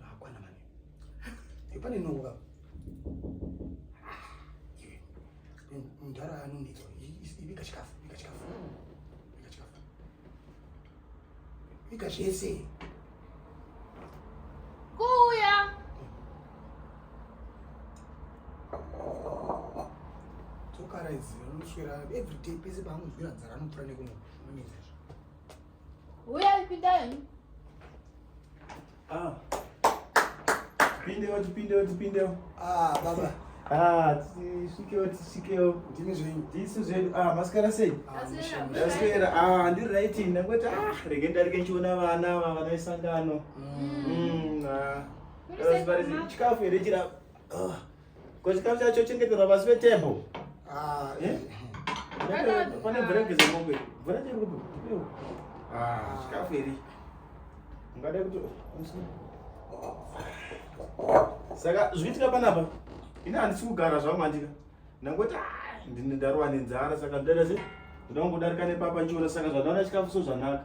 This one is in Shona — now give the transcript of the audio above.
Hakwana mani. Yopane nongo ka. Iwe. Mdara anonitsa. Ibika chikafu, ibika chikafu. Ibika chikafu. Ibika zvese. Kuya. Tokara izi anoswera every day pese paanozwira nzara anopfura nekumwe. Uya ipindai. Ah. Tipindewo, tipindewo, tipindewo. Ah, baba. Ah, tisvikewo, tisvikewo. Ndimi zvenyu. Ndisu zvedu. Ah, masikara sei? Masikara. Ah, ah ndiri right ini. Ndangoti ah, rege ndarike ndichiona vana ava vana vesangano. Mm. mm ah. Chikafu here chirapa? Ah. Ko chikafu chacho chengeterwa pasi petembo. Ah, eh? Pane mvura yekugeza mombe. Mvura chiri kupi? Ah, chikafu iri. Ungada kuti Saka zviitika panapa. Ini handisi kugara zvangu andika. Ndangoti ah, ndine ndarowa nenzara saka ndada sei? Ndinodarika nepapa chiona saka zvadaona chikafu so zvanaka.